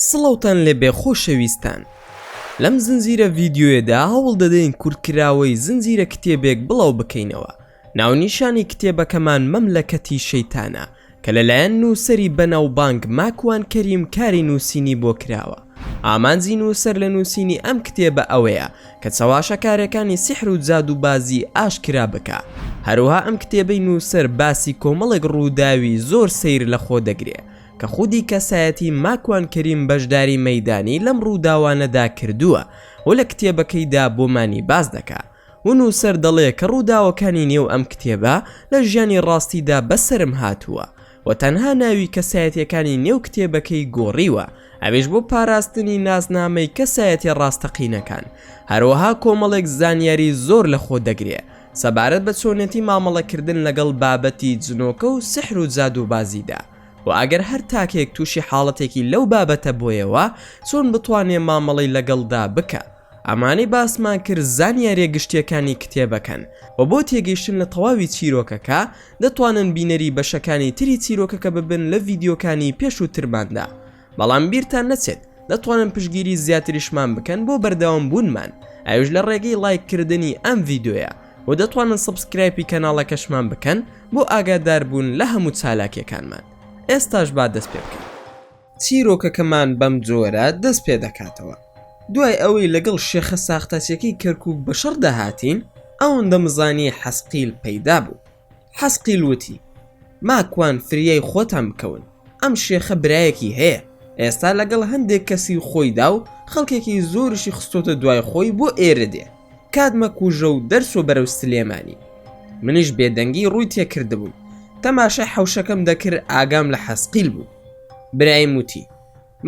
سڵاوتان لێبێ خۆشەویستان لەم زنجیرە ڤیدیۆیەدا هەوڵ دەدەین کورتکراوەی زنجیرە کتێبێک بڵاو بکەینەوە ناونیشانی کتێبەکەمان مەملەکەتی شەیتانە کە لەلایەن نووسەری بەناوبانگ ماکوان کەریم کاری نووسینی بۆ کراوە. ئامانجی نووسەر لە نووسینی ئەم کتێبە ئەوەیە کە چەواشەکارێکانی سیحر و جادووبازی ئاشکرا بکا. هەروەها ئەم کتێبەی نووسەر باسی کۆمەڵێک ڕووداوی زۆر سەیر لە خۆ دەگرێ کە خودی کەسایەتی ماکوان کەریم بەشداری مەیدانی لەم ڕووداوانەدا کردووە و لە کتێبەکەیدا بۆمانی باس دەکا. و نووسەر دەڵێ کە ڕووداوەکانی نێو ئەم کتێبە لە ژیانی ڕاستیدا بەسەرم هاتووە و تەنها ناوی کەسایەتییەکانی نێو کتێبەکەی گۆڕیوە ئەویش بۆ پاراستنی ناسنامەی کەسایەتیە ڕاستەقینەکان هەروەها کۆمەڵێک زانیاری زۆر لە خۆ دەگرێ سەبارەت بە چۆنێتی مامەڵەکردن لەگەڵ بابەتی جنۆکە و سحر و جادووبازیدا و ئەگەر هەر تاکێک تووشی حاڵەتێکی لەو بابەتە بۆیەوە چۆن بتوانێ مامەڵەی لەگەڵدا بکا. ئەمانەی باسمان کرد زانیاریە گشتیەکانی کتێبەکەن وە بۆ تێگەیشتن لە تەواوی چیرۆکەکە دەتوانن بینەری بەشەکانی تری چیرۆکەکە ببن لە ڤیدیۆکانی پێشووترماندا بەڵام بیرتان نەچێت دەتوانن پشگیری زیاتریشمان بکەن بۆ بەردەوام بوونمان ئەوش لە ڕێگەی ڵایک کردنی ئەم ڤیدۆیە و دەتوانن سبسکرایپی کەناڵەکەشمان بکەن بۆ ئاگاداربوون لە هەموو چالاکیەکانمان ئێستاش با دەست پێ بکەن. چیرۆکەکەمان بەم جۆرە دەست پێ دەکاتەوە، دوای ئەوەی لەگەڵ شێخە ساختەچیەکەی کەرکوک بەشەڕدا هاتین، ئەوەندە مزانی حەسقیل پەیدا بوو. حەسقیل وتی، ماکوان فریای خۆتان بکەون، ئەم شێخە برایەکی هەیە، ئێستا لەگەڵ هەندێک کەسی خۆیدا و خەڵکێکی زۆریشی خستۆتە دوای خۆی بۆ ئێرە دێ. کات مەکوژە و دەرچۆ بەرەو سلێمانی. منیش بێدەنگی ڕووی تێکردبووم، تەماشای حەوشەکەم دەکرد ئاگام لە حەسقیل بوو. برایم وتی،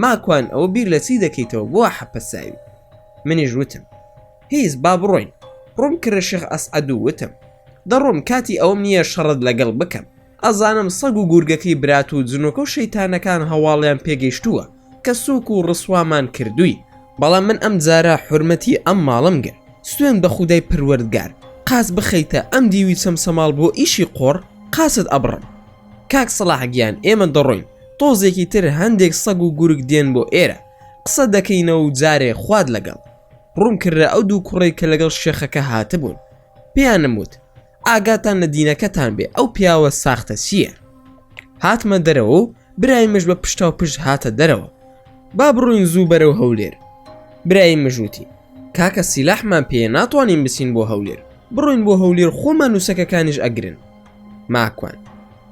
ماکوان ئەوە بیر لە چی دەکەیتەوە بۆ وا حەپەساوی؟ منیش وتم، هیچ با بڕۆین. ڕووم کردە شێخ ئەسعەد و وتم، دەڕۆم کاتی ئەوەم نییە شەڕت لەگەڵ بکەم. ئەزانم سەگ و گورگەکەی برات و جنۆکە و شەیتانەکان هەواڵیان پێگەیشتووە. کە سوک و ڕسوامان کردوی بەڵام من ئەم جارە حورمەتی ئەم ماڵم گرت سوێن بە خودای پەروەردگار قاچ بخەیتە ئەم دیوی چەمچەماڵ بۆ ئیشی قۆڕ قاچت ئەبڕم کاک سەڵاح گیان ئێمە دەڕۆین تۆزێکی تر هەندێک سەگ و گورگ دێن بۆ ئێرە قسە دەکەینەوە و جارێ خوات لەگەڵ ڕووم کردە ئەو دوو کوڕەی کە لەگەڵ شێخەکە هاتبوون پێیانم وت ئاگاتان لە دینەکەتان بێ ئەو پیاوە ساختە چییە هاتمە دەرەوە و برای مژ بە پشتا و پشت هاتە دەرەوە با بڕوین زوو بەرە و هەولێر برای مژوتی کاکە سیلاحمان پێ ناتوانین بچین بۆ هەولێر بڕوین بۆ هەولێر خۆمان نووسەکەکانیش ئەگرن ماکوان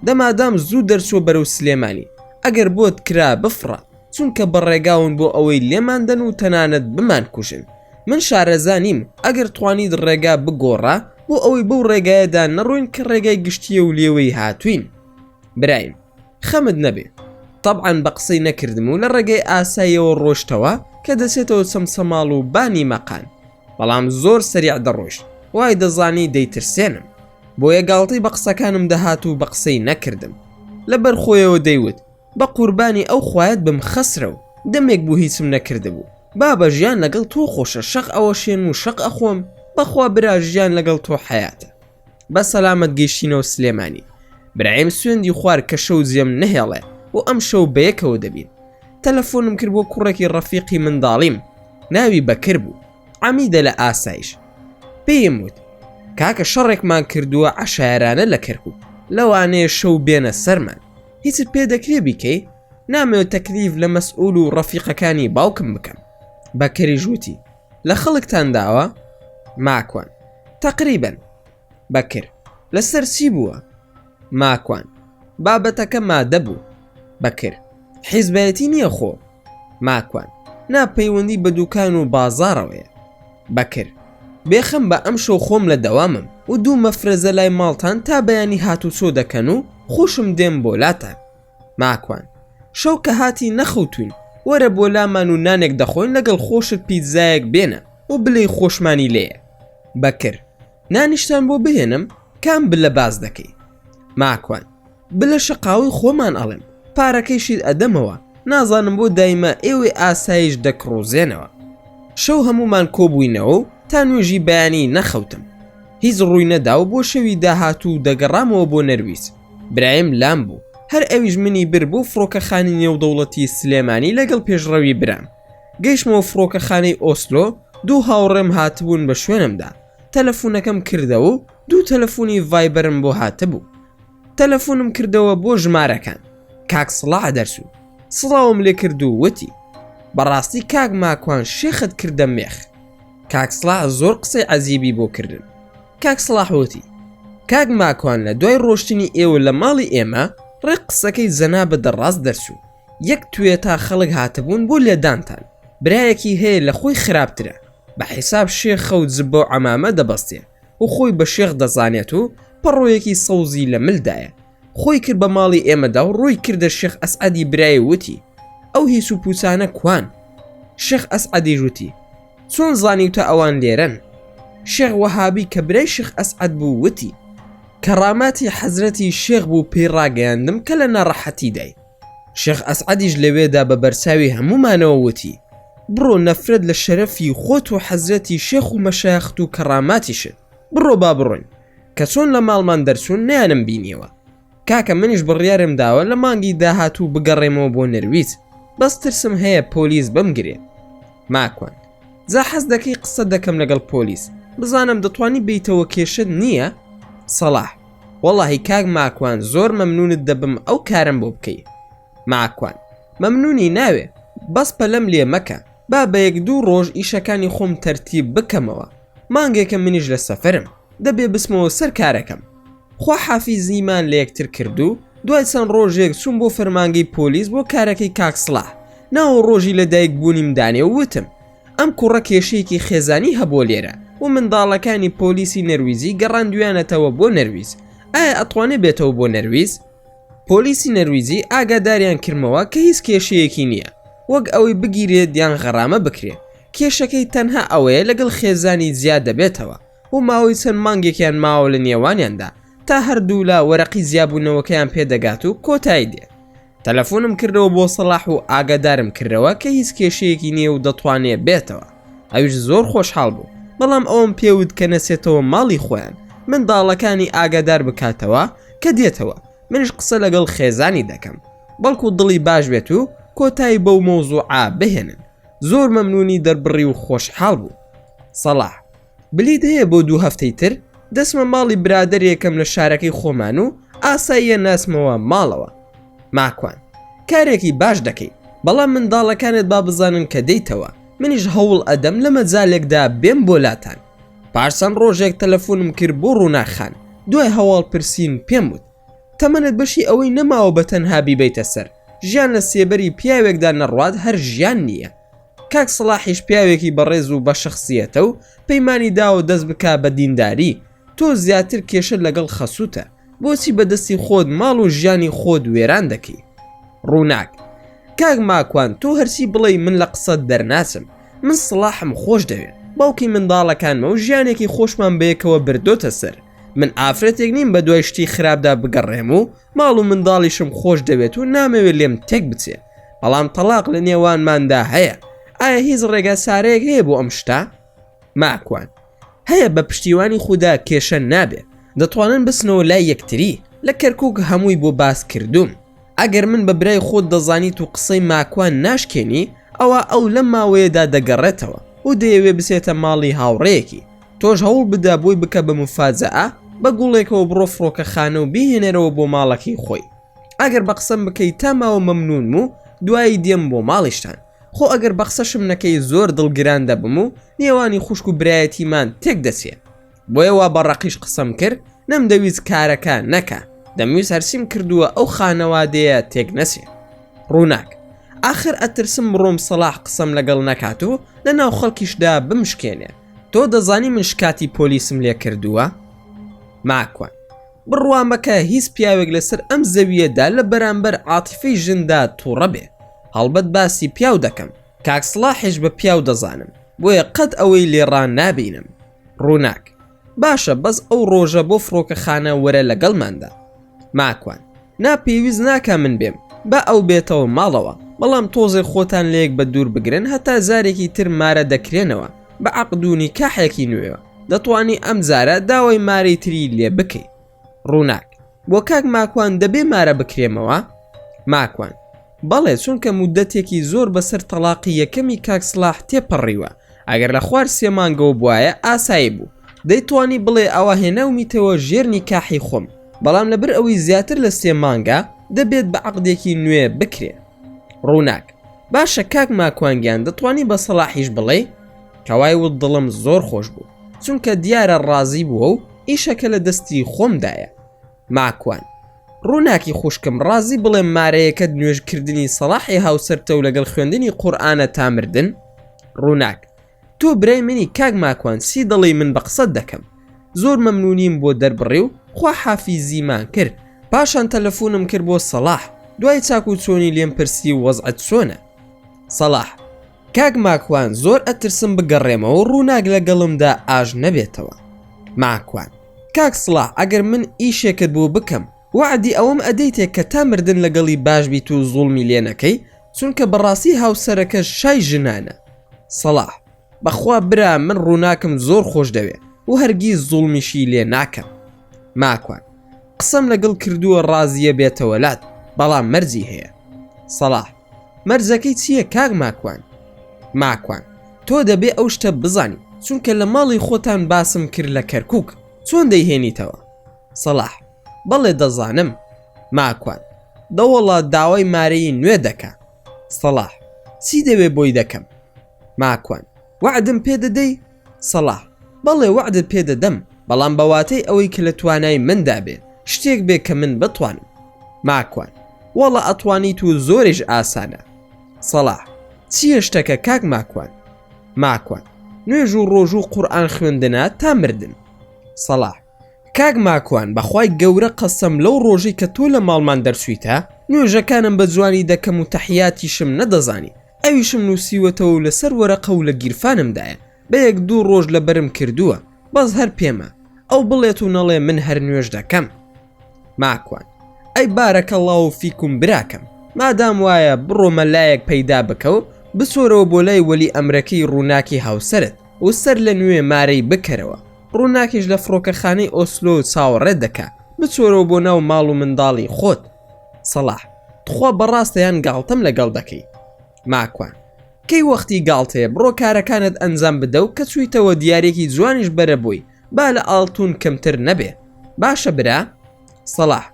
دەمادام زوو دەرچوە بەرەو سلێمانی ئەگەر بۆت کرا بفڕە چونکە بە ڕێگاون بۆ ئەوەی لێمان دەن و تەنانەت بمانکوژن من شارەزا نیم ئەگەر توانیت ڕێگا بگۆڕە بۆ ئەوەی بەو ڕێگایەدا نەڕۆین کە ڕێگای گشتیە و لێوەی هاتوین برایم خەمت نەبێ طبعاً بە قسەی نەکردم و لە ڕێگەی ئاسایەوە ڕۆشتەوە کە دەچێتەوە چەمچەماڵ و بانی مەقان بەڵام زۆر سەریع دەڕۆشت وای دەزانی دەیترسێنم بۆیە گاڵتەی بە قسەکانم دەهات و بە قسەی نەکردم لەبەر خۆیەوە دەیوت بەقوربانی ئەو خوایەت بم خەسرەو دەمێک بوو هیچم نەکردبوو بابە ژیان لەگەڵ تۆ خۆشە شەق ئەوەشێنم و شەق ئەخۆم بەخوا برا ژیان لەگەڵ تۆ حەیاتە بە سەلامەت گەیشتینەوە سلێمانی برایم سوێندی خوار کە شەو جێم نەهێڵێ بۆ ئەم شەو بەیەکەوە دەبین تەلەفۆنم کرد بۆ کوڕێکی ڕەفیقی منداڵیم ناوی بەکر بوو عەمیدە لە ئاسایش پێیم وت کاکە شەڕێکمان کردووە عەشایەرانە لە کەرکک لەوانەیە شەو بێنە سەرمان هیچت پێ دەکرێ بیکەی نامەوێت تەکلیف لە مەسئول و ڕەفیقەکانی باوکم بکەم بەکەریش وتی لە خەڵکتان داوە ماکوان تقریبن بەکر لەسەر چی بووە ماکوان بابەتەکە مادە بوو بەکر حیزبەتی نییە خۆ ماکوان نا پەیوەندی بە دوکان و بازارەوەیە بەکر، بێ خەم بە ئەمشەو خۆم لە دەوامم و دوو مەفرەزە لای ماڵتان تا بەیانی هاتوچۆ دەکەن و خۆشم دێم بۆ لاتان. ماکوان، شەو کە هاتی نەخەوتووین وەرە بۆ لامان و نانێک دەخۆین لەگەڵ خۆشت پیتزایەک بێنە و بلێی خۆشمانی لێیە. بەکر، نانیشتان بۆ بهێنم؟ کام بلە باس دەکەی؟ ماکوان. بلە شەقاوەی خۆمان ئەڵێم پارەکەیشیت ئەدەمەوە نازانم بۆ دایمە ئێوەی ئاسایش دەکڕۆزێنەوە شەو هەمومان کۆبووینەوە و تا نوێژی بەیانی نەخەوتم هیچ ڕووی نەدا و بۆ شەوی داهاتوو دەگەڕامەوە بۆ نەرویج برایم لام بوو هەر ئەویش منی بر بۆ فڕۆکەخانی نێودەوڵەتی سلێمانی لەگەڵ پێشڕەوی برام گەیشتمەوە فڕۆکەخانەی ئۆسلۆ دوو هاوڕێم هاتبوون بە شوێنمدا تەلەفونەکەم کردەوە و دوو تەلەفونی ڤایبەرم بۆ هاتبوو تەلەفونم کردەوە بۆ ژمارەکان کاک سڵا دەرسوو سڵاوم لێ کرد و وتی بەڕاستی کاک ماکوان شێخت کردە مێخ کاک سڵا زۆر قسەی عەزیبی بۆ کردن کاک سڵاحوتی کاک ماکوان لە دوای ڕۆشتنی ئێوە لە ماڵی ئێمە ڕێک قسەکەی جەنا بە دەڕاست دەرسوو یەک توێ تا خەڵک هاتبوون بۆ لێدانتان برایەکی هەیە لە خۆی خراپترە بە حیساب شێخە و جبە و عمامە دەبەستێ و خۆی بە شێخ دەزانێت و پەڕۆیەکی سەوزی لە ملدایە خۆی کرد بە ماڵی ئێمەدا و ڕووی کردە شێخ ئەسعدی برای وتی ئەو هیچ و پوچانە کوان شێخ ئەسعدی ژوتی چۆن زانی و تا ئەوان لێرەن شێخ وەهابی کە برای شێخ ئەسعد بوو وتی کەڕاماتی حەزرەتی شێخ بوو پێی ڕاگەیاندم کە لە ناڕەحەتی دای شێخ ئەسعەدیش لەوێدا بە بەرچاوی هەموومانەوە وتی، بڕۆ نەفرەت لە شەرەفی خۆت و حەزرەتی شێخ و مەشایەخت و کەڕاماتیشت، بڕۆ با بڕۆین، کە چۆن لە ماڵمان دەرچوون نەیانم بینیەوە. کاکە منیش بڕیارم داوە لە مانگی داهاتوو بگەڕێمەوە بۆ نەرویج، بەس ترسم هەیە پۆلیس بمگرێ. ماکوان. جا حەز دەکەی قسە دەکەم لەگەڵ پۆلیس بزانم دەتوانی بیتەوە کێشت نییە؟ سەڵاح وەڵاهی کاک ماکوان زۆر مەمنونت دەبم ئەو کارم بۆ بکەی ماکوان مەمنونی ناوێ بەس پەلەم لێ مەکە با بە یەک دوو ڕۆژ ئیشەکانی خۆم تەرتیب بکەمەوە مانگێکە منیش لە سەفرم دەبێ بسمەوە سەر کارەکەم خواحافیزیمان لەیەکتر کردو دوای چەند ڕۆژێک چووم بۆ فەرمانگەی پۆلیس بۆ کارەکەی کاک سڵاح ناوو ڕۆژی لەدایک بوونیم دانێ و وتم ئەم کوڕە کێشەیەکی خێزانی هەبووە لێرە و منداڵەکانی پۆلیسی نەرویجی گەڕاندویانەتەوە بۆ نەرویج ئایا ئەتوانێ بێتەوە بۆ نەرویج پۆلیسی نەرویجی ئاگاداریان کردمەوە کە هیچ کێشەیەکی نییە وەک ئەوەی بگیرێت یان غەڕامە بکرێت کێشەکەی تەنها ئەوەیە لەگەڵ خێزانی جیا دەبێتەوە و ماوەی چەند مانگێکیان ماوە لە نێوانیاندا تا هەردوولا وەرەقی جیابوونەوەکەیان پێدەگات و کۆتایی دێت تەلەفۆنم کردەوە بۆ سەڵاح و ئاگادارم کردەوە کە هیچ کێشەیەکی نییە و دەتوانێت بێتەوە ئەوش زۆر خۆشحاڵ بوو بەڵام ئەوم پێوت کە نەچێتەوە ماڵی خۆیان منداڵەکانی ئاگادار بکاتەوە کە دێتەوە منش قسە لەگەڵ خێزانی دەکەم بەڵکو دڵی باش بێت و کۆتایی بەو مۆزوعا بهێنن زۆر مەمنونی دەربڕی و خۆشحاڵ بوو سەڵاح بلیت هەیە بۆ دوو هەفتەی تر دەسمە ماڵی برادێکم لە شارەکەی خۆمان و ئاساییە ناسمەوە ماڵەوە ماکوان کارێکی باش دەکەی بەڵام منداڵەکانت با بزانن کە دەیتەوە منیش هەوڵ ئەدەم لە مەجالێکدا بێم بۆ لاتان پارسەن ڕۆژێک تەلەفۆنم کرد بۆ ڕووناخان دوای هەواڵ پرسین پێم وت تەمەنت بەشی ئەوەی نەماوە بە تەنها بیبیتە سەر ژیان لە سێبەری پیاوێکدا نەڕوات هەر ژیان نییە کاک سەڵاحیش پیاوێکی بەڕێز و بەشەخسیەتە و پەیمانی داوە دەست بکا بە دینداری تۆ زیاتر کێشە لەگەڵ خەسوتە بۆچی بەدەستی خۆت ماڵ و ژیانی خۆت وێران دەکەی ڕووناک کاک ماکوان تۆ هەرچی بڵێ من لە قسەت دەرناچم من سڵاحم خۆش دەوێت باوکی منداڵەکانمە و ژیانێکی خۆشمان بەیەکەوە بردۆتە سەر من ئافرەتێک نیم بە دوای شتی خراپدا بگەڕێم و ماڵ و منداڵیشم خۆش دەوێت و نامەوێت لێم تێک بچێ بەڵام تەلاق لە نێوانماندا هەیە ئایا هیچ ڕێگا سارەیەک هەیە بۆ ئەم شتا ماکوان هەیە بە پشتیوانی خوددا کێشە نابێ دەتوانن بسنەوە لای یەکتری لە کەرکک هەمووی بۆ باس کردوم ئەگەر من بە برای خۆت دەزانیت و قسەی ماکوان ناشکێنی ئەوە ئەو لەم ماوەیەدا دەگەڕێتەوە و دەیەوێ بسێتە ماڵی هاوڕەیەکی تۆش هەوڵ بدە بۆی بکە بە مفاجەئە بە گوڵێکەوە بڕۆ فڕۆکەخانە و بیهێنەرەوە بۆ ماڵەکەی خۆی ئەگەر بە قسەم بکەیت تا ماوە مەمنونم و دوایی دێم بۆ ماڵیشتان خۆ ئەگەر بە قسەشم نەکەی زۆر دڵگران دەبم و نێوانی خوشک و برایەتیمان تێک دەچێ بۆیە وا بە ڕەقیش قسەم کرد نەمدەویست کارەکە نەکە دەمویست هەرچیم کردووە ئەو خانەوادەیە تێک نەچێ ڕووناک ئاخر ئەترسم بڕۆم سەڵاح قسەم لەگەڵ نەکات و لە ناو خەڵکیشدا بمشکێنێ تۆ دەزانی من شکاتی پۆلیسم لێ کردووە؟ ماکوان بڕوا مەکە هیچ پیاوێک لەسەر ئەم زەویەدا لە بەرامبەر عاتیفی ژندا تووڕە بێ هەڵبەت باسی پیاو دەکەم کاکسڵاحش بە پیاو دەزانم بۆیە قەت ئەوەی لێڕان نابینم ڕووناک باشە بەس ئەو ڕۆژە بۆ فڕۆکەخانە وەرە لەگەڵماندا ماکوان. نا پێویست ناکا من بێم با ئەو بێتەوە ماڵەوە بەڵام تۆزێ خۆتان لەیەک بە دوور بگرن هەتا جارێکی تر مارە دەکرێنەوە بە عەقد و نیکاحێکی نوێوە دەتوانی ئەم جارە داوای مارەی تری لێ بکەی ڕووناک. بۆ کاک ماکوان دەبێ مارە بکرێمەوە؟ ماکوان. بەڵێ چونکە مودەتێکی زۆر بەسەر تەڵاقی یەکەمی کاک سڵاح تێپەڕیوە ئەگەر لە خوار سێ مانگەوە بوایە ئاسایی بوو دەیتوانی بڵێ ئەوە هێناومیتەوە ژێر نیکاحی خۆم بەڵام لەبر ئەوەی زیاتر لە سێ مانگە دەبێت بە عەقدێکی نوێ بکرێ ڕووناک باشە کاک ماکوانگیان دەتوانی بە سەڵاحیش بڵێ کەوای و دڵم زۆر خۆش بوو چونکە دیارە ڕازی بووە و ئیشەکە لە دەستی خۆمدایە ماکوان. ڕووناکی خوشکم ڕازی بڵێم مارەیەکەت نوێژ کردنی سەڵاحی هاوسەرتە و لەگەڵ خوێندنی قورئانە تا مردن؟ ڕووناک. تۆ برای منی کاک ماکوان چی دەڵێی من بە قسەت دەکەم. زۆر مەمنونیم بۆ دەربڕی و خوا حافیزیمان کرد. پاشان تەلەفونم کرد بۆ سەڵاح دوای چاک و چۆنی لێم پرسی و وەزعت چۆنە؟ سەڵاح. کاک ماکوان زۆر ئەترسم بگەڕێمەوە ڕووناک لەگەڵمدا ئاش نەبێتەوە ماکوان کاک سڵاح ئەگەر من ئیشێکت بۆ بکەم وەعدی ئەوەم ئەدەیتێ کە تا مردن لەگەڵی باش بیت و زوڵمی لێ نەکەی چونکە بەڕاستی هاوسەرەکەش شای ژنانە سڵاح بەخوا برا من ڕووناکم زۆر خۆش دەوێ و هەرگیز زوڵمیشی لێ ناکەم ماکوان قسەم لەگەڵ کردووە ڕازیە بێتەوە لات بەڵام مەرجی هەیە سڵاح مەرجەکەی چیە کاک ماکوان. ماکوان تۆ دەبێ ئەو شتە بزانی چونکە لە ماڵی خۆتان باسم کرد لە کەرکوک چۆن دەیهێنیتەوە؟ سەڵاح بەڵێ دەزانم. ماکوان دەوەڵا داوای مارەیی نوێ دەکا. سەڵاح چی دەوێ بۆی دەکەم. ماکوان وەعدم پێ دەدەی؟ سەڵاح، بەڵێ وەعدت پێ دەدەم، بەڵام بە واتەی ئەوەی کە لە توانای مندا بێ شتێک بێ کە من بتوانم. ماکوان، وەڵا ئەتوانیت و زۆریش ئاسانە. سەڵاح، چییە شتەکە کاک ماکوان؟ ماکوان، نوێژ و ڕۆژوو و قورئان خوێندنە تا مردن. سەڵاح، کاک ماکوان بە خوای گەورە قەسەم لەو ڕۆژەی کە تۆ لە ماڵمان دەرچوویتە نوێژەکانم بە جوانی دەکەم و تەحیاتیشم نەدەزانی، ئەویشم نوسیوەتەوە و لەسەر وەرەقە و لە گیرفانمدایە بە یەک دوو ڕۆژ لەبەرم کردووە بەس هەر پێمە ئەو بڵێت و نەڵێ من هەر نوێژ دەکەم ماکوان ئەی بارەکە اللە و فیکم براکەم مادام وایە بڕۆ مەلایەک پەیدا بکە و بچۆرەوە بۆ لای وەلی ئەمرەکەی ڕووناکی هاوسەرت و سەر لە نوێ مارەی بکەرەوە ڕووناکیش لە فڕۆکەخانەی ئۆسلۆ چاوەڕێت دەکا بچۆرەوە بۆ ناو ماڵ و منداڵی خۆت سەڵاح تخوا بەڕاستە یان گاڵتەم لەگەڵ دەکەی ماکوان کەی وەختی گاڵتەیە بڕۆ کارەکانت ئەنجام بدە و کە چوویتەوە دیارێکی جوانیش بەرە بووی با لە ئاڵتون کەمتر نەبێ باشە برا سەڵاح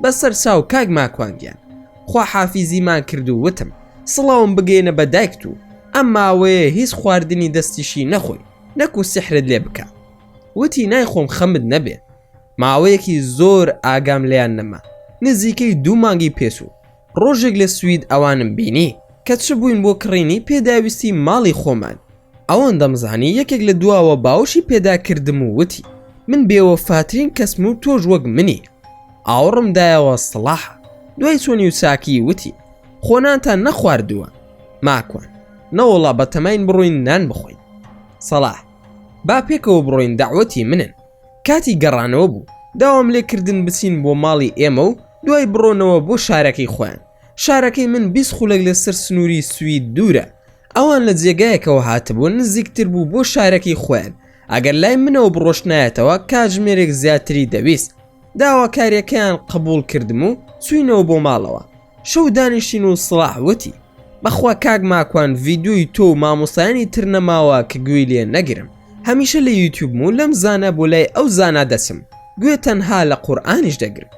بەسەر چاو کاک ماکوانگیان خوا حافیزیمان کرد و وتم سڵاوم بگەینە بە دایکت و ئەم ماوەیە هیچ خواردنی دەستیشی نەخۆی نەکو سحرت لێ بکە وتی نایخۆم خەمت نەبێ ماوەیەکی زۆر ئاگام لێیان نەما نزیکەی دوو مانگی پێچوو ڕۆژێک لە سوید ئەوانم بینی کە چ بووین بۆ کڕینی پێداویستی ماڵی خۆمان ئەوەن دەمزانی یەکێک لە دواوە باوشی پێدا کردم و وتی من بێوەفاترین کەسم و تۆش وەک منی ئاوڕم دایەوە سڵاح دوای چۆنی و چاکی وتی خۆنانتان نەخواردووە ماکوان نەوەڵا بەتەماین بڕۆین نان بخۆین سەڵاح با پێکەوە بڕۆین داوەتی منن کاتی گەڕانەوە بوو داوام لێ کردن بچین بۆ ماڵی ئێمە و دوای بڕۆنەوە بۆ شارەکەی خۆیان شارەکەی من بیست خولەک لەسەر سنووری سوید دوورە ئەوان لە جێگایەکەوە هاتبوون نزیکتر بوو بۆ شارەکەی خۆیان ئەگەر لای منەوە بڕۆشتنایەتەوە کاتژمێرێک زیاتری دەویست داواکاریەکەیان قبول کردم و چوینەوە بۆ ماڵەوە شوو دانیشتین و سڵاح وتی بەخوا کاک ماکوان ڤیدۆی تۆ و مامۆستایانی تر نەماوە کە گوێی لێ نەگرم هەمیشە لە یوتیوبم و لەم زانە بۆ لای ئەو زانا دەچم گوێ تەنها لە قورئانیش دەگرم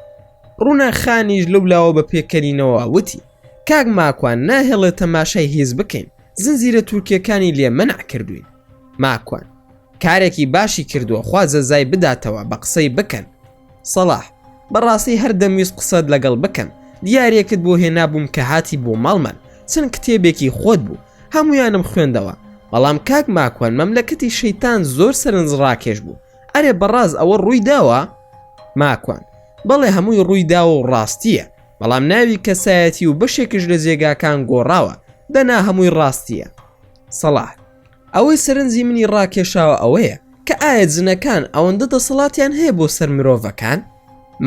ڕوونا خانیش لەو لاوە بە پێکەنینەوە وتی کاک ماکوان ناهێڵێت تەماشای هیز بکەین زنجیرە تورکیەکانی لێ مەنع کردوین ماکوان کارێکی باشی کردووە خوا جەزای بداتەوە بە قسەی بکەن سەڵاح، بەڕاستی هەر دەمویست قسەت لەگەڵ بکەم، دیارییەکت بۆ هێنابووم کە هاتی بۆ ماڵمان، چەند کتێبێکی خۆت بوو، هەموویانم خوێندەوە، بەڵام کاک ماکوان مەملەکەتی شەیتان زۆر سەرنجڕاکێش بوو، ئەرێ بەڕاست ئەوە ڕووی داوە؟ ماکوان، بەڵێ هەمووی ڕووی داوە و ڕاستییە، بەڵام ناوی کەسایەتی و بەشێکیش لە جێگاکان گۆڕاوە، دەنا هەمووی ڕاستییە. سەڵاح، ئەوەی سەرنجی منی ڕاکێشاوە ئەوەیە کە ئایا جنەکان ئەوەندە دەسەڵاتیان هەیە بۆ سەر مرۆڤەکان؟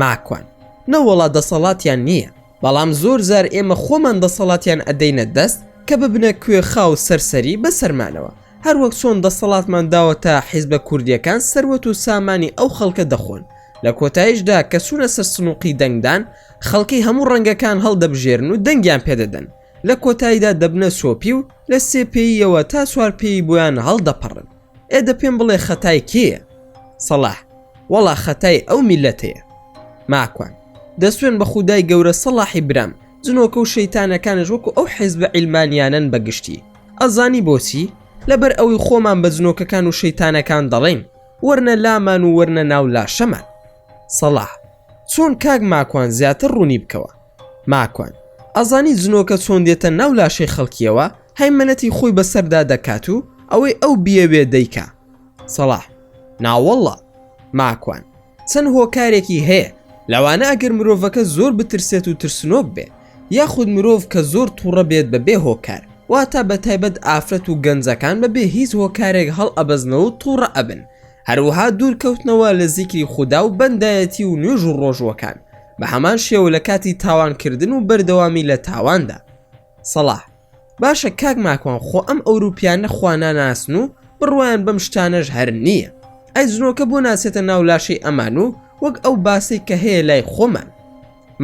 ماکوان، نەوەڵا دەسەڵاتیان نییە، بەڵام زۆر جار ئێمە خۆمان دەسەڵاتیان ئەدەینە دەست کە ببنە کوێخا و سەرسەری بە سەرمانەوە، هەروەک چۆن دەسەڵاتمان داوەتە حیزبە کوردییەکان سەروەت و سامانی ئەو خەڵکە دەخۆن، لە کۆتاییشدا کە چوونە سەر سنووقی دەنگدان خەڵکی هەموو ڕەنگەکان هەڵدەبژێرن و دەنگیان پێدەدەن. لە کۆتاییدا دەبنە سۆپی و لە سێ پێییەوە تا چوار پێیی بۆیان هەڵدەپەڕن. ئێ دە پێم بڵێ خەتای کێیە؟ سەڵاح، وەڵا خەتای ئەو میللەتەیە. ماکوان، دەسوێن بە خودای گەورە سەڵاحی برام، جنۆکە و شەیتانەکانش وەکو ئەو حیزبە عیلمانییانەن بە گشتی. ئەزانی بۆچی؟ لەبەر ئەوەی خۆمان بە جنۆکەکان و شەیتانەکان دەڵێین، وەرنە لامان و وەرنە ناو لاشەمان. سەڵاح، چۆن کاک ماکوان زیاتر ڕوونی بکەوە. ماکوان ئەزانی جنۆکە چۆن دێتە ناو لاشەی خەڵکیەوە هەیمەنەتی خۆی بەسەردا دەکات و ئەوەی ئەو بیەوێ دەیکا سەڵاح ناوەڵڵا ماکوان چەند هۆکارێکی هەیە لەوانە ئەگەر مرۆڤەکە زۆر بترسێت و ترسنۆک بێ یاخود مرۆڤ کە زۆر تووڕە بێت بە بێ هۆکار واتا بە تایبەت ئافرەت و گەنجەکان بە بێ هیچ هۆکارێک هەڵ ئەبەزنەوە و تووڕە ئەبن هەروەها دوورکەوتنەوە لە زیکری خودا و بەندایەتی و نوێژ و ڕۆژووەکان بە هەمان شێوە لە کاتی تاوانکردن و بەردەوامی لە تاواندا سەڵاح باشە کاک ماکوان خۆ ئەم ئەوروپیانە خواناناسن و بڕوایان بەم شتانەش هەر نییە ئەی جنۆکە بۆ ناچێتە ناو لاشەی ئەمان و وەک ئەو باسەی کە هەیە لای خۆمان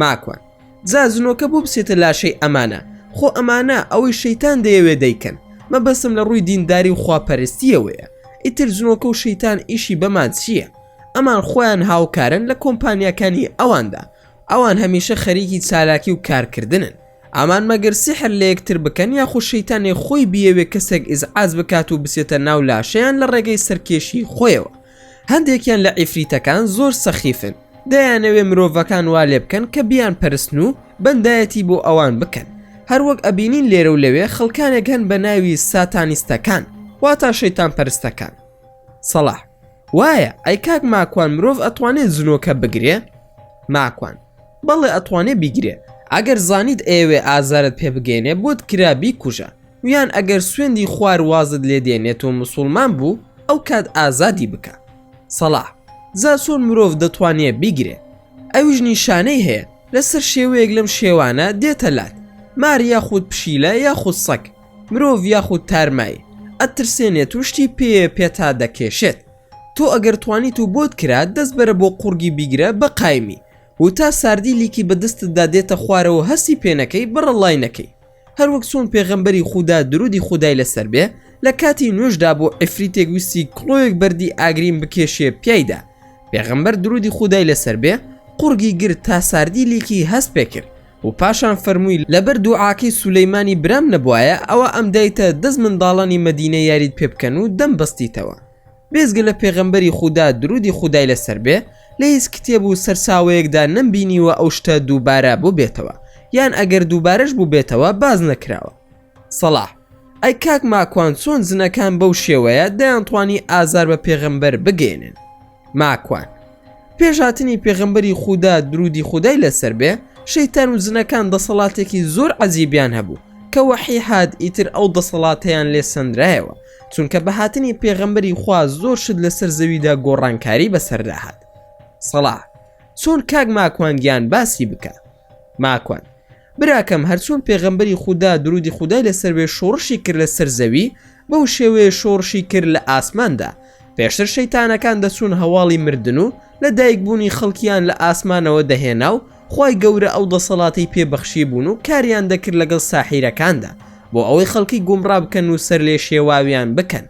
ماکوان جا جنۆکە بۆ بچێتە لاشەی ئەمانە خۆ ئەمانە ئەوەی شەیتان دەیەوێ دەیکەن مەبەستم لە ڕووی دینداری و خواپەرستیەوەیە ئیتر جنۆکە و شەیتان ئیشی بەمان چییە ئەمان خۆیان هاوکارن لە کۆمپانیاکانی ئەواندا ئەوان هەمیشە خەریکی چالاکی و کارکردنن ئامان مەگەر سیحر لە یەکتر بکەن یاخو شەیتانێ خۆی بیەوێ کەسێک ئیزعاج بکات و بچێتە ناو لاشەیان لە ڕێگەی سەرکێشی خۆیەوە هەندێکیان لە عیفریتەکان زۆر سەخیفن دەیانەوێ مرۆڤەکان وا لێ بکەن کە بیان پەرستن و بەندایەتی بۆ ئەوان بکەن هەروەک ئەبینین لێرە و لەوێ خەڵکانێک هەن بە ناوی ساتانیستەکان واتا شەیتان پەرستەکان سەڵاح وایە ئەی کاک ماکوان مرۆڤ ئەتوانێت زنۆکە بگرێ ماکوان بەڵێ ئەتوانێ بیگرێ ئەگەر زانیت ئێوێ ئازارت پێ بگەێنێ بۆت کرابی کوژە یان ئەگەر سوێندی خوار وازت لێ دێنێت و مسوڵمان بوو ئەو کات ئازادی بکە سەڵا زا چۆن مرۆڤ دەتوانێ بیگرێ ئەویش نیشانەی هەیە لەسەر شێوەیەک لەم شێوانە دێتە لات مار یاخود پشیلە یاخود سەگ مرۆڤ یاخود تارمایی ئەترسێنێت و شتی پێ پێتا دەکێشێت تۆ ئەگەر توانیت و بۆت کرا دەست بەرە بۆ قوڕگی بیگرە بە قایمی و تا ساردی لیکی بە دەستتدا دێتە خوارەوە هەستی پێنەکەی بڕە ڵای نەکەی هەروەک چۆن پێغەمبەری خودا درودی خودای لەسەر بێ لە کاتی نوێشدا بۆ ئەفریتێک ویستی کڵۆیەک بەردی ئاگرین بکێشێ پیایدا پێغەمبەر درودی خودای لەسەر بێ قورگی گر تا ساردی لیکی هەست پێکرد و پاشان فەرمووی لەبەر دوعاکەی سولەیمانی برام نەبوایە ئەوە ئەمدایتە دەست منداڵانی مەدینە یاریت پێ بکەن و دەمبەستیتەوە. بێجگە لە پێغەمبەری خودا درودی خودای لەسەر بێ لە هیچ کتێب و سەرچاوەیەکدا نەمبینیوە ئەو شتە دووبارە بوبێتەوە یان ئەگەر دووبارەش بوبێتەوە باس نەکراوە سەڵاح ئەی کاک ماکوان چۆن جنەکان بەو شێوەیە دەیانتوانی ئازار بە پێغەمبەر بگەێنن ماکوان پێش هاتنی پێغەمبەری خودا درودی خودای لەسەر بێ شەیتان و جنەکان دەسەڵاتێکی زۆر عەجیبیان هەبوو کە وەحی هاات ئیتر ئەو دەسەڵاتیان لێ سندرایەوە چونکە بە هاتنی پێغەمبەری خوا زۆر شت لەسەر زەویدا گۆڕانکاری بەسەردا هات سەڵاح چۆن کاک ماکوانگیان باسی بکە ماکوان براکەم هەرچۆن پێغەمبەری خوددا درودی خودای لەسەر بێ شۆڕشی کرد لەسەر زەوی بەو شێوەیە شۆڕشی کرد لە ئاسماندا پێشتر شەیتانەکان دەچوون هەواڵی مردن و لە دایکبوونی خەڵکیان لە ئاسمانەوە دەهێنا و خوای گەورە ئەو دەسەڵاتەی پێ بەخشیبوون و کاریان دەکرد لەگەڵ ساحیرەکاندا بۆ ئەوەی خەڵکی گومڕا بکەن و سەرلێشێواویان بکەن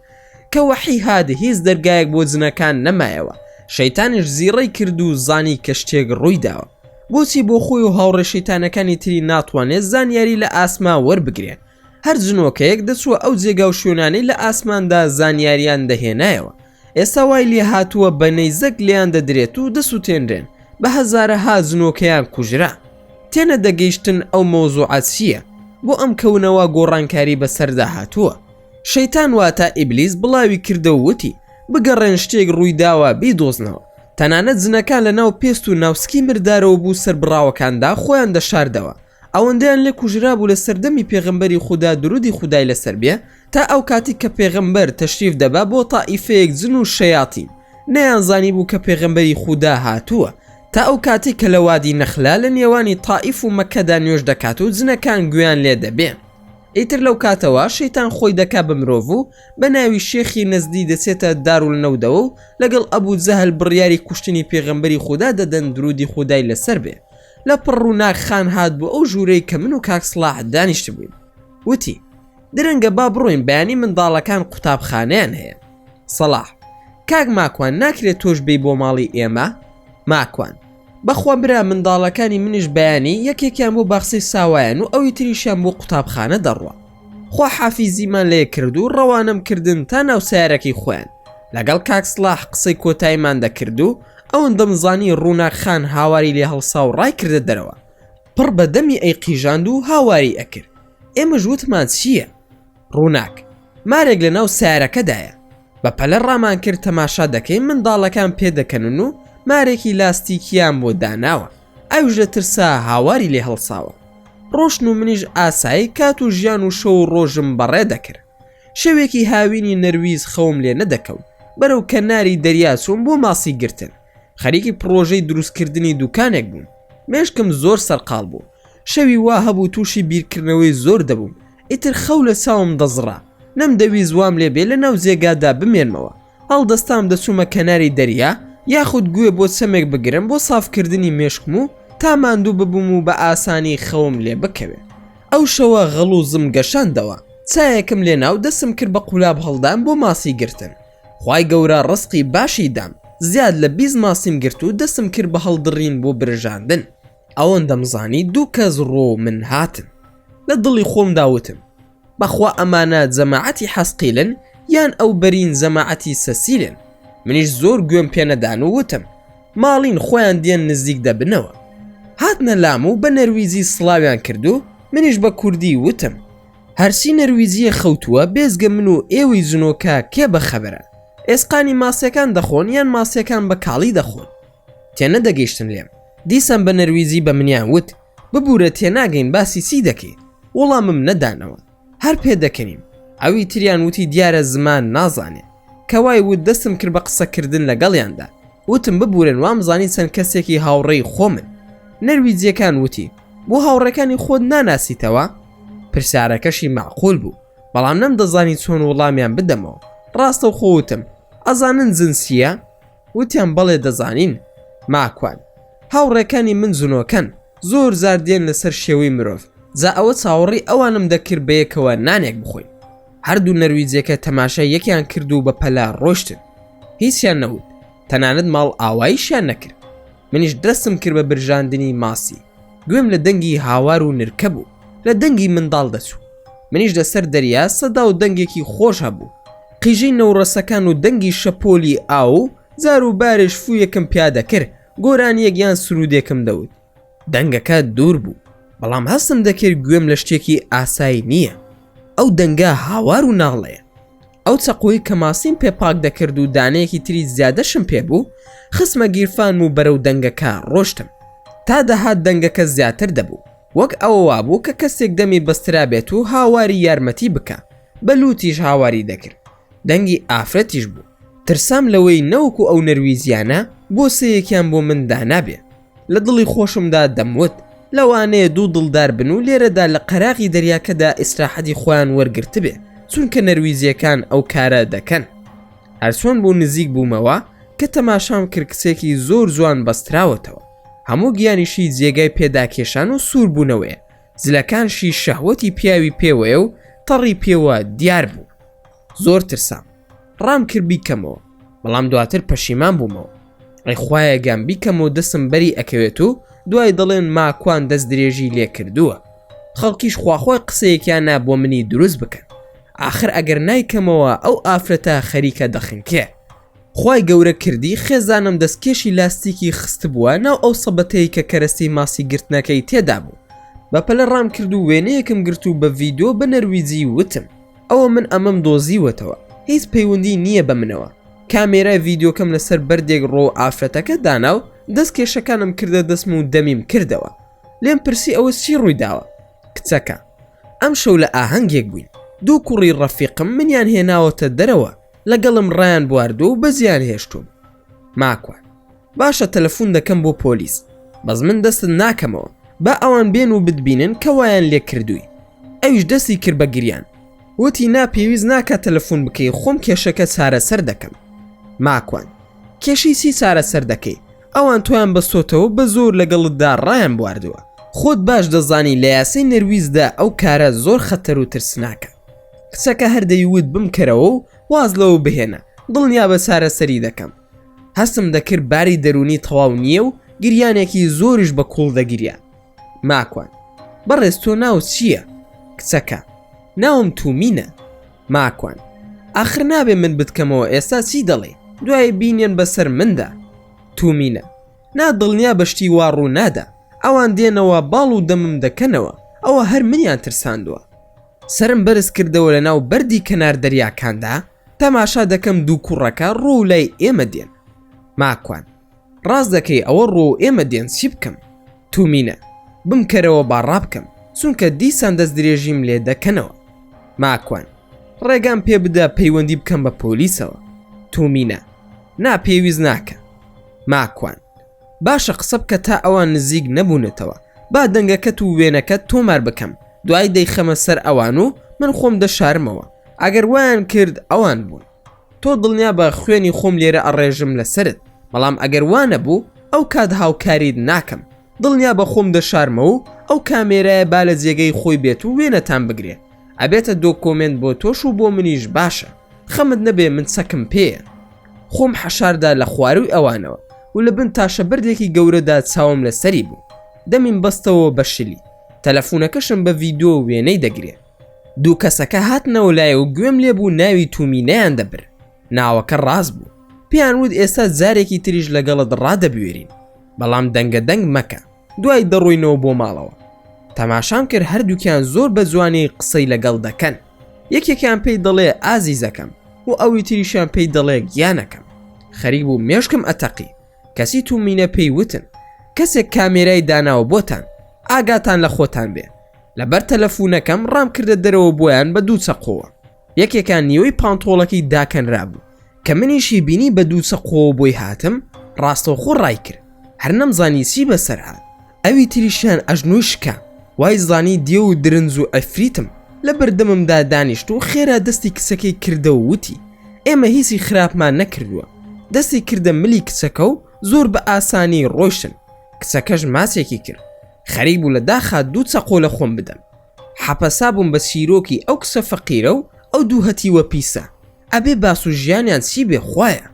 کە وەحی هات هیچ دەرگایەک بۆ جنەکان نەمایەوە شەیتانیش زیڕەی کرد و زانی کە شتێک ڕوویداوە بۆچی بۆ خۆی و هاوڕێ شەیتانەکانی تری ناتوانێت زانیاری لە ئاسما وەربگرێت هەر جنۆکەیەک دەچووە ئەو جێگا و شوێنانەی لە ئاسماندا زانیاریان دەهێنایەوە ئێستا وای لێ هاتووە بە نەیزەک لێیان دەدرێت و دەسووتێنرێن بە هەزارە ها جنۆکەیان کوژرا تێنە دەگەیشتن ئەو مۆزوعات چییە بۆ ئەم کەونەوە گۆڕانکاری بەسەردا هاتووە شەیتان واتە ئیبلیس بڵاوی کردە وتی بگەڕێن شتێک ڕوویداوە بیدۆزنەوە تەنانەت زنەکان لە ناو پێست و ناوسکی مردارەوە بوو سەربڕاوەکاندا خۆیان دەشاردەوە ئەوەندەیان لێ کوژرابوو لە سەردەمی پێغەمبەری خودا درودی خودای لەسەر بێ تا ئەو کاتی کە پێغەمبەر تەشریف دەبا بۆ تائیفەیەک جن و شەیاتین نەیان زانی بوو کە پێغەمبەری خودا هاتووە تا ئەو کاتی کە لە وادی نەخلا لە نێوانی تائیف و مەکەدا نوێژ دەکات و جنەکان گوێیان لێ دەبێ ئیتر لەو کاتەوە شەیتان خۆی دەکا بە مرۆڤ و بە ناوی شێخی نەزدی دەچێتە دارول نەودەوە و لەگەڵ ئەبوو جەهل بڕیاری کوشتنی پێغەمبەری خودا دەدەن درودی خودای لەسەر بێ لە پڕ ڕووناک خان هات بۆ ئەو ژوورەی کە من و کاک سڵاح دانیشت بووین وتی درەنگە با بڕۆین بەیانی منداڵەکان قوتابخانەیان هەیە سەڵاح کاک ماکوان ناکرێت تۆش بی بۆ ماڵی ئێمە ماکوان بەخوا برا منداڵەکانی منیش بەیانی یەکێکیان بۆ باخسەی ساوایان و ئەوی تریشیان بۆ قوتابخانە دەڕوە خوا حافیزیمان لێ کرد و ڕەوانەم کردن تا ناو سیارەکەی خۆیان لەگەڵ کاکسلاح قسەی کۆتایمان دەکرد و ئەوەن دەمزانی ڕووناکخان هاواری لێ هەڵسا و ڕای کردە دەرەوە پڕ بە دەمی ئەی قیژاند و هاواری ئەکرد ئێمە ژوتمان چییە ڕووناک مارێک لە ناو سیارەکەدایە بە پەلە ڕامان کرد تەماشا دەکەین منداڵەکان پێ دەکەنن و مارێکی لاستیکیان بۆ داناوە ئەویش لە ترسا هاواری لێ هەڵساوە ڕۆشن و منیش ئاسایی کات و ژیان و شەو و ڕۆژم بەڕێ دەکرد شەوێکی هاوینی نەرویز خەوم لێ نەدەکەوت بەرەو کەناری دەریاچووم بۆ ماسی گرتن خەریکی پڕۆژەی دروستکردنی دوکانێک بووم مێشکم زۆر سەرقاڵ بوو شەوی وا هەبوو تووشی بیرکردنەوەی زۆر دەبووم ئیتر خەو لە چاوم دەزڕا نەمدەویست وام لێ بێ لە ناو جێگادا بمێنمەوە هەڵدەستام دەچوومە کەناری دەریا یاخود گوێ بۆ چەمێک بگرم بۆ سافکردنی مێشکم و تا ماندوو ببووم و بە ئاسانی خەوم لێ بکەوێت ئەو شەوە غەڵوزم گەشاندەوە چایەکم لێ ناو دەسم کرد بە قولاب هەڵدان بۆ ماسی گرتن خی گەورە ڕسقی باشی دام زیاد لە بیست ماسیم گرت و دەسم کرد بە هەڵدڕین بۆ برژاندن ئەوەن دەمزانی دوو کەس ڕۆ من هاتن لە دڵی خۆم داوتم بەخوا ئەمانە جەماعەتی حەسقیلن یان ئەو بەرین جەماعەتی سەسیلن منیش زۆر گوێم پێنەدان و وتم ماڵین خۆیان دێن نزیک دەبنەوە هاتنە لام و بە نەرویجی سڵاویان کردو منیش بە کوردی وتم هەرچی نەرویجیە خەوتووە بێزگە من و ئێوەی جنۆکە کێ بە خەبەرە ئێسقانی ماسیەکان دەخۆن یان ماسیەکان بە کاڵی دەخۆن تێنەدەگەیشتن لێم دیسان بە نەرویجی بە منیان وت ببورە تێناگەین باسی چی دەکەی وڵامم نەدانەوە هەر پێدەکەنیم ئەوی تریان وتی دیارە زمان نازانێ کەوای وت دەستم کرد بە قسەکردن لەگەڵیاندا وتم ببورن وامزانی چەند کەسێکی هاوڕێی خۆمن نەرویجیەکان وتی بۆ هاوڕێکانی خۆت ناناسیتەوە پرسیارەکەشی معقول بوو بەڵام نەم دەزانی چۆن وڵامیان بدەمەوە ڕاستەوخۆوتم ئەزانن جنسیە وتیان بەڵێ دەزانین ماکوان. هاوڕێکانی من زنۆکەن زۆر زار دێن لەسەر شێوەی مرۆڤ جا ئەوە چاوەڕی ئەوانم دەکرد بەیەکەوە نانێک بخۆین هەردوو نەرویجەکە تەماشای یەکیان کرد و بەپەلە ڕۆشتن هیچیان نەوت تەنانەت ماڵ ئاوایشیان نەکرد منیش دەستم کرد بە برژاندنی ماسی گوێم لە دەنگی هاوار و نرکە بوو لە دەنگی منداڵ دەچوو منیش لەسەر دەریا سەدا و دەنگێکی خۆش هەبوو قیژەی نەوڕەسەکان و دەنگی شەپۆلی ئاو و زار و بارش فوویەکم پیادەکرد گۆرانیەک یان سرودێکم دەوت دەنگەکە دوور بوو بەڵام هەستم دەکرد گوێم لە شتێکی ئاسایی نییە ئەو دەنگە هاوار و ناڵەیە ئەو چەقۆی کە ماسیم پێ پاک دەکرد و دانەیەکی تری زیادەشم پێ بوو خسمە گیرفان و بەرەو دەنگەکە ڕۆشتم تا دەهات دەنگەکە زیاتر دەبوو وەک ئەوە وابوو کە کەسێک دەمی بەسترا بێت و هاواری یارمەتی بکە بە لوتیش هاواری دەکرد دەنگی ئافرەتیش بوو ترسام لەوەی نەوەکو ئەو نەرویزیانە بۆ سەیەکیان بۆ من دانابێ لە دڵی خۆشمدا دەموت لەوانەیە دوو دڵدار بن و لێرەدا لە قەراغی دەریاکەدا ئیسراحەتی خۆیان وەرگرتبێ چونکە نەرویزیەکان ئەو کارە دەکەن هەرچۆن بوو نزیک بوومەوە کە تەماشام کرد کچێکی زۆر جوان بەستراوەتەوە هەموو گیانیشی جێگای پێداکێشان و سووربوونەوەیە زلەکانشی شەهوەتی پیاوی پێوەیە و تەڕی پێوە دیار بوو زۆر ترسام ڕام کرد بیکەمەوە بەڵام دواتر پەشیمان بوومەوە ئەی خوایە گام بیکەم و دەسم بەری ئەکەوێت و دوای دەڵێن ماکوان دەست درێژی لێ کردووە خەڵکیش خواخوای قسەیەکیان نا بۆ منی دروست بکەن آخر ئەگەر نایکەمەوە ئەو ئافرەتە خەریکە دەخنکێ خی گەورە کردی خێزانم دەستکێشی لاستیکی خست بووە ناو ئەو سەبەتەی کە کەرەستی ماسی گرتنەکەی تێدا بوو بەپەلە ڕام کرد و وێنەیەکم گرت و بە ڤیددیو بە نەرویجی وتم ئەوە من ئەمەم دۆزیوەتەوە هیچ پەیوەندی نییە بە منەوە کامێرای ڤیددیوکەم لەسەر بەردێک ڕۆ ئافرەتەکە دانا و دەست کێشەکانم کردە دەستم و دەمیم کردەوە لێم پرسی ئەوە چی ڕووی داوە کچەکە ئەم شەو لە ئاهەنگێک بووین دوو کوڕی ڕەفیقم منیان هێناوەتە دەرەوە لەگەڵم ڕایان بواردو و بەزیان هێشتوم ماکوان باشە تەلەفون دەکەم بۆ پۆلیس بەس من دەستت ناکەمەوە با ئەوان بێن و بتبینن کە وایان لێ کردووی ئەویش دەستی کرد بە گریان وتی نا پێویست ناکە تەلەفون بکەی خۆم کێشەکە چارەسەر دەکەم ماکوان کێشی چی چارەسەر دەکەی ئەوان تۆیان بەستۆتەوە بە زۆر لەگەڵتدا ڕایان بواردووە خۆت باش دەزانی لە یاسی نەرویزدا ئەو کارە زۆر خەتەر و ترسناکە کچەکە هەردەیوت بمکەرەوە و واز لەوە بهێنە دڵنیا بە چارەسەری دەکەم هەستم دەکرد باری دەرونی تەواو نییە و گریانێکی زۆریش بە کوڵ دەگریا ماکوان بەڕێز تۆ ناو چییە کچەکە ناوم تومینە ماکوان ئاخر نابێ من بتکەمەوە ئێستا چی دەڵێ دوای بینێن بەسەر مندا تومینە نا دڵنیا بەشتی وا ڕوو نادا ئەوان دێنەوە باڵ و دەمم دەکەنەوە ئەوە هەر منیان ترساندووە سەرم بەرز کردەوە لە ناو بەردی کەنار دەریاکاندا تەماشا دەکەم دوو کوڕەکە ڕۆ و لای ئێمە دێن ماکوان ڕاست دەکەی ئەوە ڕۆ و ئێمە دێن چی بکەم تومینە بمکەرەوە با ڕابکەم چونکە دیسان دەست درێژیم لێ دەکەنەوە ماکوان ڕێگام پێ بدە پەیوەندی بکەم بە پۆلیسەوە تومینە نا پێویست ناکە ماکوان باشە قسە بکە تا ئەوان نزیک نەبوونەتەوە با دەنگەکەت و وێنەکەت تۆمار بکەم دوایی دەیخەمە سەر ئەوان و من خۆم دەشارمەوە ئەگەر وایان کرد ئەوان بوون تۆ دڵنیا بە خوێنی خۆم لێرە ئەڕێژم لەسرت بەڵام ئەگەر وانە بوو ئەو کات هاوکاریت ناکەم دڵنیا بە خۆم دەشارمە و ئەو کامێرایە با لە جێگەی خۆی بێت و وێنەتان بگرێ ئەبێتە دۆکۆمنت بۆ تۆش و بۆ منیش باشە خەمت نەبێ من چەکم پێە خۆم حەشاردا لە خواروی ئەوانەوە و لە بن تاشە بردێکی گەورەدا چاوم لە سەری بوو دەمیم بەستەوە بە شلی تەلەفونەکەشم بە ڤیددیو وێنەی دەگرێ دوو کەسەکە هاتنەوە لای و گوێم لێ بوو ناوی تومی نیان دەبر ناوەکە ڕاست بوو پێیان وت ئێستا جارێکی تریش لەگەڵت ڕادەبوێرین بەڵام دەنگە دەنگ مەکە دوای دەڕۆینەوە بۆ ماڵەوە تەماشام کرد هەردووکیان زۆر بە جوانی قسەی لەگەڵ دەکەن یەکێکیان پێی دەڵێ ئازیزەکەم و ئەوی تریشیان پێی دەڵێ گیانەکەم خەریک بوو مێشکم ئەتەقی کەسی تو مینە پێی وتن کەسێک کامێرای داناوە بۆتان ئاگاتان لە خۆتان بێ لەبەر تەلەفونەکەم ڕام کردە دەرەوە بۆیان بە دوو چەقۆوە یەکێکان نیوەی پانتۆڵەکەی داکەنرابوو کە منیشی بینی بە دوو چەقۆوە بۆی هاتم ڕاستەوخۆ ڕای کرد هەر نەمزانی چی بەسەر هاات ئەوی تریشیان ئەژنۆی شکا وای زانی دێو و درنج و عفریتم لە بەردەممدا دانیشت و خێرا دەستی کچەکەی کردە و وتی ئێمە هیچی خراپمان نەکردووە دەستی کردە ملی کچەکە و زۆر بە ئاسانی ڕۆیشتن کچەکەش ماچێکی کرد خەریک بوو لە داخا دوو چەقۆ لە خۆم بدەم حەپەسا بووم بە چیرۆکی ئەو کچە فەقیرە و ئەو دوو هەتیوە پیسە ئەبێ باس و ژیانیان چی بێ خوایە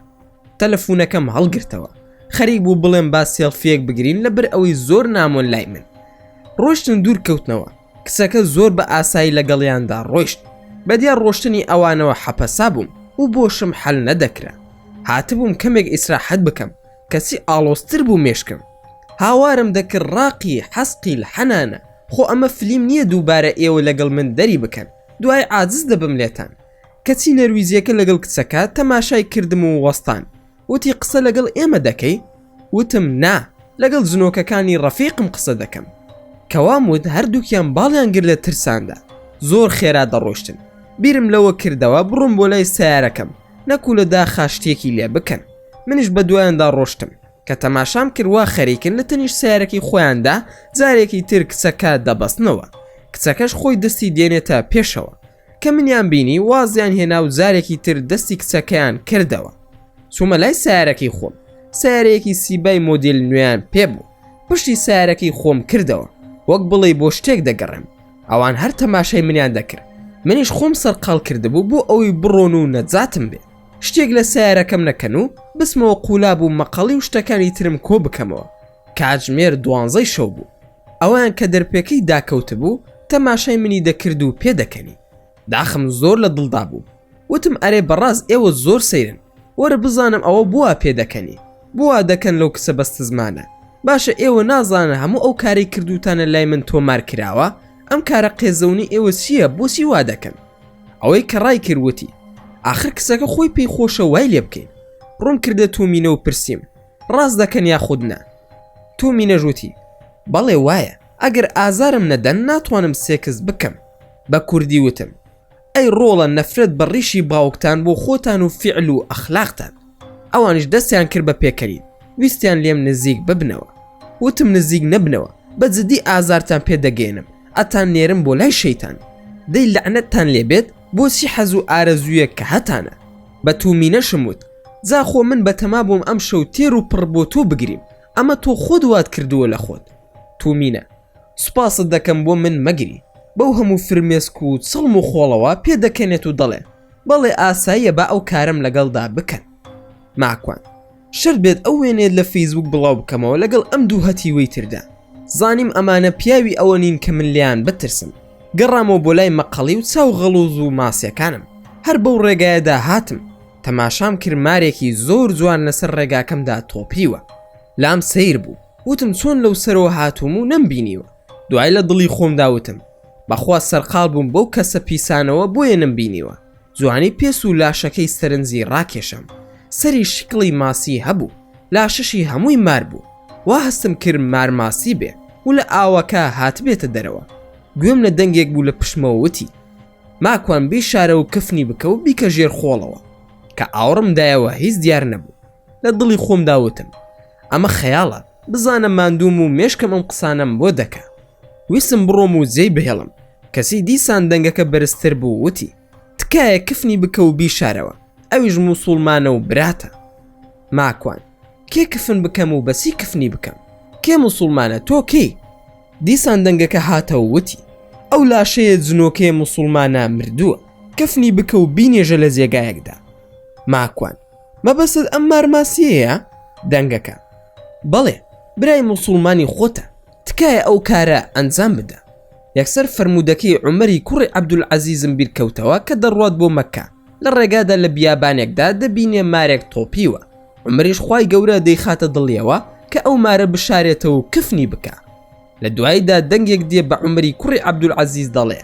تەلەفونەکەم هەڵگرتەوە خەریک بوو بڵێم با سێڵفیەک بگرین لە بەر ئەوەی زۆر نامۆن لای من ڕۆشتن دوور کەوتنەوە کچەکە زۆر بە ئاسایی لەگەڵیاندا ڕۆشت بەدیا ڕۆشتنی ئەوانەوە حەپەسا بووم و بۆشم حەل نەدەکرا هاتبووم کەمێک ئیسراحەت بکەم کەچی ئاڵۆستر بوو مێشکم هاوارم دەکرد ڕاقی حەسقی حەنانە خۆ ئەمە فلیم نیە دووبارە ئێوە لەگەڵ من دەری بکەن دوای عاجز دەبم لێتان کەچی نەرویجیەکە لەگەڵ کچەکە تەماشای کردم و وەستان وتی قسە لەگەڵ ئێمە دەکەی وتم نا لەگەڵ جنۆکەکانی ڕەفیقم قسە دەکەم کەوام وت هەردووکیان باڵیان گر لە ترساندا زۆر خێرا دەڕۆشتن بیرم لەوە کردەوە بڕۆم بۆ لای سیارەکەم نەکو لە داخا شتێکی لێ بکەن منیش بە دوایاندا ڕۆشتم کە تەماشام کرد وا خەریکن لە تەنیشت سیارەکەی خۆیاندا جارێکی تر کچەکە دەبەستنەوە کچەکەش خۆی دەستی دێنێتە پێشەوە کە منیان بینی وازیان هێنا و جارێکی تر دەستی کچەکەیان کردەوە چوومە لای سیارەکەی خۆم سیارەیەکی سیبای مۆدیل نوێیان پێ بوو پشتی سیارەکەی خۆم کردەوە وەک بڵێ بۆ شتێک دەگەڕێم ئەوان هەر تەماشای منیان دەکرد منیش خۆم سەرقال کردبوو بۆ ئەوەی بڕۆن و نەجاتم بێ شتێک لە سیارەکەم نەکەن و بسمەوە قولا بوو مەقەڵی و شتەکانی ترم کۆ بکەمەوە کاتژمێر دوانزەی شەو بوو ئەوان کە دەرپێکەی داکەوت بوو تەماشای منی دەکرد و پێدەکەنی داخم زۆر لە دڵدا بوو وتم ئەرێ بەڕاز ئێوە زۆر سەیرن وەرە بزانم ئەوە بووە پێدەکەنی بووە دەکەن لەو کچە بەست زمانە باشە ئێوە نازانە هەموو ئەو کاری کردوتانە لای من تۆمار کراوە ئەم کارە قێزەونی ئێوە چییە بۆچی وا دەکەن ئەوەی کە ڕای کرد وتی ئاخر کچەکە خۆی پێی خۆشە وای لێ بکەین ڕوون کردە تومینە و پرسییم ڕاست دەکەن یا خود نا تومی نەژوتی بەڵێ وایە ئەگەر ئازارم نەدەن ناتوانم سێکس بکەم بە کوردی وتم ئەی ڕۆڵە نەفرەت بە ڕیشی باوکتان بۆ خۆتان و فعل و ئەخلاقتان ئەوانش دەستیان کرد بە پێکەری ویستیان لێم نزیک ببنەوە وتم نزیک نەبنەوە بە جدی ئازارتان پێدەگەێنم ئەتان نێرم بۆ لای شەیتان دەی لەعنەتتان لێبێت بۆچی حەز و ئارەزوویەک کە هەتانە بە تومینەشم وت جاخۆ من بەتەما بووم ئەم شەو تێر و پڕ بۆ تۆ بگریم ئەمە تۆ خۆت وات کردووە لە خۆت تومینە سوپاست دەکەم بۆ من مەگری بەو هەموو فرمێسک و چڵم و خۆڵەوە پێدەکەنێت و دەڵێ بەڵێ ئاساییە با ئەو کارەم لەگەڵدا بکەن ماکوان شەرت بێت ئەو وێنەیەت لە فەیسبووک بڵاو بکەمەوە لەگەڵ ئەم دوو هەتیوەی تردا زانیم ئەمانە پیاوی ئەوە نین کە من لیان بترسم گەڕامەوە بۆ لای مەقەڵی و چاو غەڵوز و ماسیەکانم هەر بەو ڕێگایەدا هاتم تەماشام کرد مارێکی زۆر جوان لەسەر ڕێگاکەمدا تۆپیوە لام سیر بوو وتم چۆن لەو سەرەوە هاتووم و نەمبینیوە دوای لە دڵی خۆمداوتم بەخوا سەرقال بووم بەو کەسە پیسانەوە بۆیە نەمبینیوە جوانی پێست و لاشەکەی سەرنجی ڕاکێشام. سەری شکڵی ماسی هەبوو، لاشەشی هەمووی مار بوو. وا هەستم کرد مار ماسی بێ و لە ئاوەکە هاتبێتە دەرەوە. گوێم لە دەنگێک بوو لە پشتمەوە وتی، ماکوان بیشارە و کفنی بکە و بیکە ژێر خۆڵەوە. کە ئاوڕم دایەوە هیچ دیار نەبوو. لە دڵی خۆمدا وتم، ئەمە خەیاڵە. بزانە ماندووم و مێشکم ئەم قسانەم بۆ دەکا. ویستم بڕۆم و جێی بهێڵم، کەچی دیسان دەنگەکە بەرزتر بوو وتی، تکایە کفنی بکە و بیشارەوە، ئەویش موسوڵمانە و براتە. ماکوان، کێ کفن بکەم و بەچی کفنی بکەم؟ کێ موسوڵمانە تۆ کێی؟ دیسان دەنگەکە هاتە و وتی، ئەو لاشەیە جنۆکەیە موسوڵمانە مردووە، کفنی بکە و بینێژە لە جێگایەکدا. ماکوان، مەبەستت ئەم مارماسیەیە دەنگەکە بەڵێ برای موسڵمانی خۆتە تکایە ئەو کارە ئەنجام بدە یەکسەر فەرموودەکەی عومەری کوڕی عەبدولعەزیزم بیرکەوتەوە کە دەڕوات بۆ مەککە لە ڕێگادا لە بیابانێکدا دەبینێ مارێک تۆپیوە عومەریش خوای گەورە دەیخاتە دڵیەوە کە ئەو مارە بشارێتەوە و کفنی بکا لە دواییدا دەنگێک دێ بە عومەری کوڕی عەبدولعەزیز دەڵێ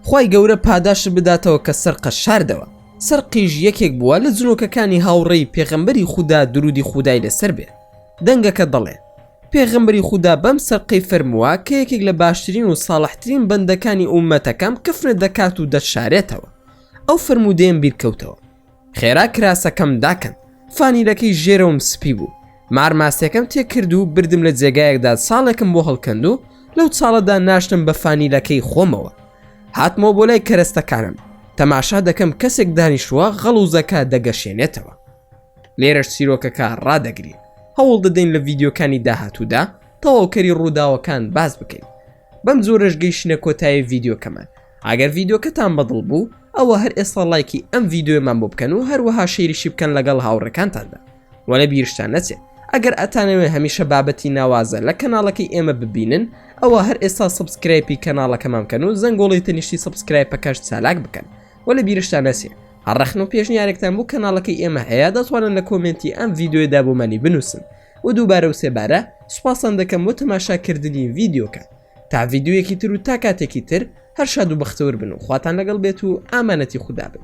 خوای گەورە پاداشت بداتەوە کە سەرقەش شاردەوە سەرقیژ یەکێک بووە لە جنۆکەکانی هاوڕێی پێغەمبەری خودا درودی خودای لەسەر بێ دەنگەکە دەڵێ پێغەمبەری خودا بەم سەرقەی فەرمووە کە یەکێک لە باشترین و ساڵحترین بەندەکانی ئومەتەکەم کفنت دەکات و دەتشارێتەوە ئەو فەرموودەیەم بیرکەوتەوە خێرا کراسەکەم داکەن فانیلەکەی ژێرەوەم سپی بوو مارماسیەکەم تێکرد و بردم لە جێگایەکدا ساڵێکم بۆ هەڵکەند و لەو چاڵەدا ناشتم بە فانیلەکەی خۆمەوە هاتمەوە بۆ لای کەرەستەکانم تەماشا دەکەم کەسێک دانیشووە غەڵوزەکە دەگەشێنێتەوە لێرەش سیرۆکەکە ڕدەگرین هەوڵ دەدەین لە ڤیددیوکانی داهاتوودا تەواوکەری ڕووداوەکان باز بکەین بەم جۆرەش گەیشتنە کۆتایی ڤیدیۆکەمان ئەگەر ڤیدیۆکەتان بەدڵ بوو ئەوە هەر ئێستا لایکی ئەم ڤیدیۆمان بۆ بکەن و هەروەها شێریشی بکەن لەگەڵ هاوڕەکانتاندا وە لە بیرشتان نەچێت ئەگەر ئەتانەوێ هەمیشە بابەتی ناوازە لە کەناڵەکەی ئێمە ببینن ئەوە هەر ئێستا سبسکرایپی کەناڵەکەمان بکەن و زەنگۆڵی تەنیشتی سبسکرایپەکەش چالاک بکەن وە لە بیرشتان نەچێ هەڕەخن و پێشنیارێکتان بۆ کەناڵەکەی ئێمە هەیە دەتوانن لە کۆمنتی ئەم ڤیددیوێدا بۆمانی بنووسن و دووبارە و سێبارە سوپاستان دەکەم بۆ تەماشا کردنی ڤیدیۆکە تا ڤیدیۆیەکی تر و تا کاتێکی تر هەر شاد و بەختەور بن و خواتان لەگەڵ بێت و ئامانەتی خودا بن